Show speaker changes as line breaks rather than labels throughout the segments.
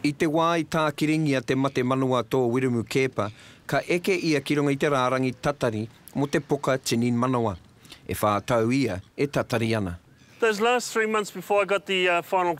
I te wā i tākiringia te mate manawa a tō Wiremu Keepa, ka eke ia ki runga i te rārangi tatari mō te poka tinin manawa. E whā tau ia e tatari ana. Those last three
months before I got the final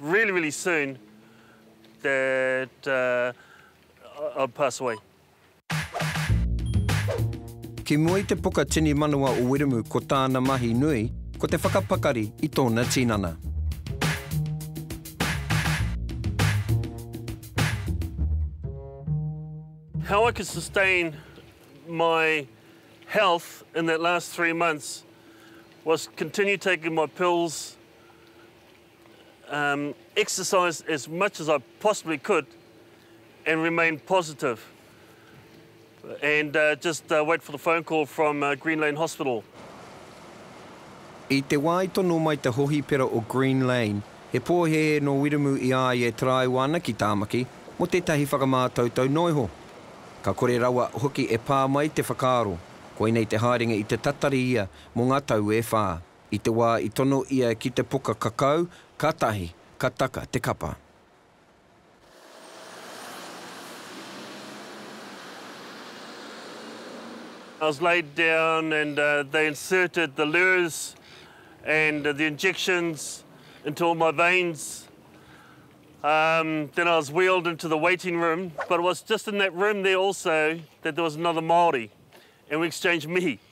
Really really soon that I'll pass away.
Ki mua i te puka tini manawa o Wiremu ko tāna mahi nui ko te whakapakari i tōna tinana.
How I could sustain my health in that last three months was continue taking my pills exercise as much as I possibly could and remain positive and just wait for the phone call from Green Lane Hospital.
I te wā i tono mai te hohipera o Green Lane, he pōhēhē nō Wiremu i a ia e taraiwa ana ki Tāmaki mō tētahi whakamātautau noa iho. Ka kore rawa hoki e pā mai te whakaaro, koinei te haerenga i te tatari ia mō ngā tau e whā. I te wā i tono ia ki te poka kakau, ka tahi, ka taka te kapa.
I was laid down and they inserted the lures and the injections into all my veins, then I was wheeled into the waiting room, but it was just in that room there also that there was another Māori and we exchanged mihi.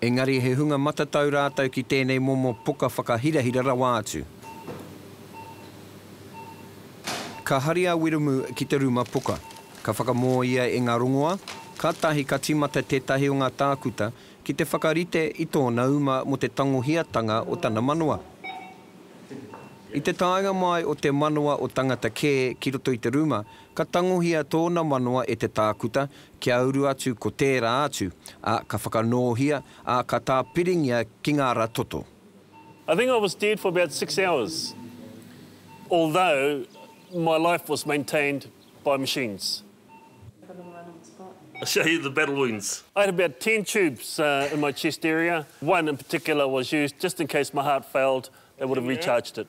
Engari he hunga matatau rātou ki tēnei momo poka whakahirahira rawa atu. Ka hari a Wiremu ki te ruma poka. Ka whakamō ia e ngā rongoā, kātahi ka tīmata tētahi o ngā tākuta ki te whakarite i tōna uma mō te tangohiatanga o tana manawa. I te taenga mai o te manawa o tangata kē ki roto i te ruma, ka tangohia tōna manawa e te tākuta Kia uru atu ko tērā atu, ā, ka whakanōhia, ā, ka tāpiringia ki ngā rā toto. I think
I was dead for about six hours, although my life was maintained by machines. I show you the battle wounds. I had about ten tubes in my chest area, one in particular was used just in case my heart failed, it would have recharged it.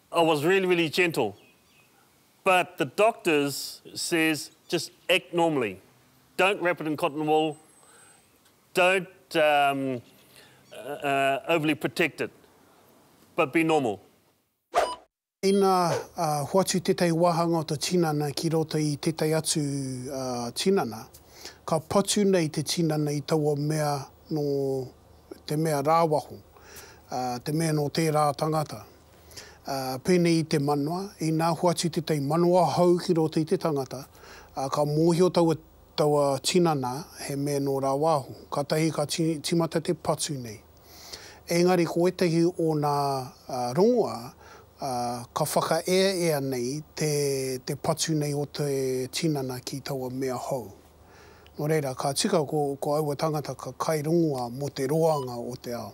I was really really gentle but the doctors says just act normally don't wrap it in cotton wool don't um uh overly protect it but be normal.
Ina hoatu tētahi wāhanga o te tinana ki roto i tētahi atu tinana, ka patu nei te tinana i taua mea nō te mea rāwaho, te mea nō tērā tangata. pēnei i te manawa, inā hoatu tētahi manawa hou ki roto i te tangata, ā, ka mōhio taua, taua tinana he mea nō rāwāhu, kātahi ka ti, tīmata te patu nei. Engari ko ētahi o nā rongoā, ā, ka whakaeaea nei te, te patu nei o te tinana ki taua mea hou. Nō reira, ka tika ko, ko aua tāngata ka kai rongoā mō te roanga o te ao.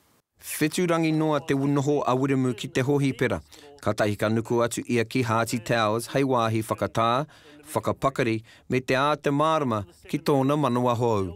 Whetu rangi
noa te noho a Wiremu ki te hohipera, katahi ka nuku atu ia ki Haati Towers hei wāhi whakatā, whakapakari me te āta mārama ki tōna
manawa hou.